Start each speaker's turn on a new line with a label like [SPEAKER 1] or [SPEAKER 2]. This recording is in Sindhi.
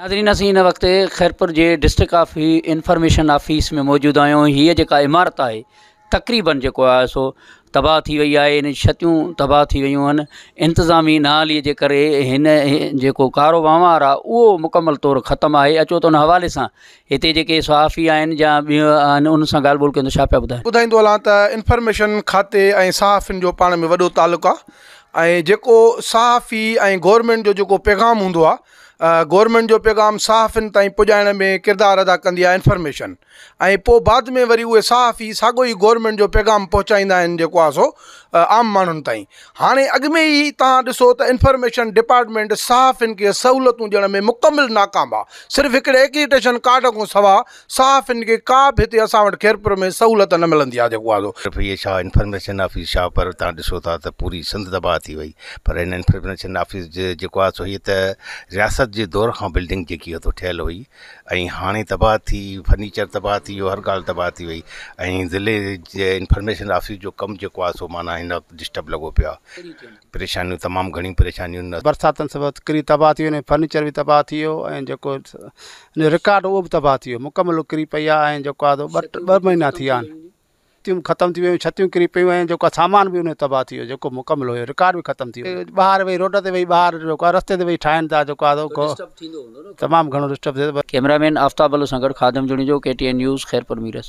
[SPEAKER 1] ناظرين اسين هن وقت خيرپور جي ڊسٽرڪ آف انفارميشن آفيس ۾ موجود آهيون هيء جيڪا عمارت آهي تقريبن جيڪو آهي سو تباهه ٿي وئي آهي ان جون ڇتيون تباهه ٿي ويون آهن انتظامي نااهلي جي ڪري هن جيڪو ڪارو وهنوار آهي اهو مڪمل طور ختم آهي اچو ته ان حوالي سان هتي جيڪي صحافي آهن يا ٻيو آهن ان سان ڳالهه ٻولهه ڪيون ته ڇا پيا ٻڌائين ٻڌائيندو هلان ته
[SPEAKER 2] انفارميشن کاتي ۽ صحافين جو پاڻ ۾ وڏو تعلق آهي ۽ جيڪو صحافي ۽ گورمينٽ جو جيڪو پيغام هوندو آهي گورنمينٽ جو پيغام صحافين تائين پڄائڻ ۾ ڪردار ادا ڪندي آهي انفارميشن ۽ پوء بعد ۾ وري اهي صحافي ساڳو ئي گورنمينٽ جو پيغام پهچائيندا آهن جيڪو آهي سو عام ماڻهن تائين هاڻي اڳ ۾ ئي تهان ڏسو ته انفارميشن ڊپارٽمينٽ صحافين کي سهولتون ڏيڻ ۾ مڪمل ناڪام آهي صرف هڪڙي اڪريٽيشن ڪارڊ کان سواء صحافين کي ڪا به هتي اسان وٽ خيرپور ۾ سهولت نه ملندي آهي جيڪو آزو F A Shah information
[SPEAKER 3] office Shahpur تان ڏسو ٿا ته پوري سنڌ تباهه ٿي وئي پر هن انفرميشن آفيس جي جيڪو آهي سو هيء ته رياست جي دور کان بلڊنگ جيڪي هتو ٺهيل هئي ۽ هاڻي تباهه ٿي فرنيچر تباهه ٿي ويو هر ڳالهه تباهه ٿي وئي ۽ ضلعي جي انفرميشن آفيس جو ڪم جيڪو آهي سو معنيٰ هن وقت ڊسٽرب لڳو پيو آهي پريشانيون تمام گهڻيون پريشانيون. برساتن سبب ڪري
[SPEAKER 4] تباهه ٿي ويو فرنيچر به تباهه ٿي ويو ۽ جيڪو رڪارڊ اهو به تباهه ٿي ويو مڪمل ڪري پئي آهي ۽ جيڪو آهي سو ٻه مهينا ٿي ويا آهن ڇتيون ختم ٿي ويون ڇتيون ڪري پيون ۽ جيڪو آهي سامان به ان جو تباهه ٿي ويو جيڪو مڪمل هيو رڪارڊ به ختم ٿي ويو ٻاهر ويهي روڊ تي ويهي ٻاهر جيڪو آهي رستي تي ويهي ٺاهين ٿا جيڪو آهي سو ڊسٽرب ٿيندو هوندو
[SPEAKER 1] نه
[SPEAKER 4] تمام
[SPEAKER 1] گهڻو ڊسٽرب ٿئي ٿو. ڪيمرا مين آفتاب بلوچ
[SPEAKER 4] سان گڏ
[SPEAKER 1] Khadim Junejo
[SPEAKER 4] K
[SPEAKER 1] T N news Khairpur Mirs.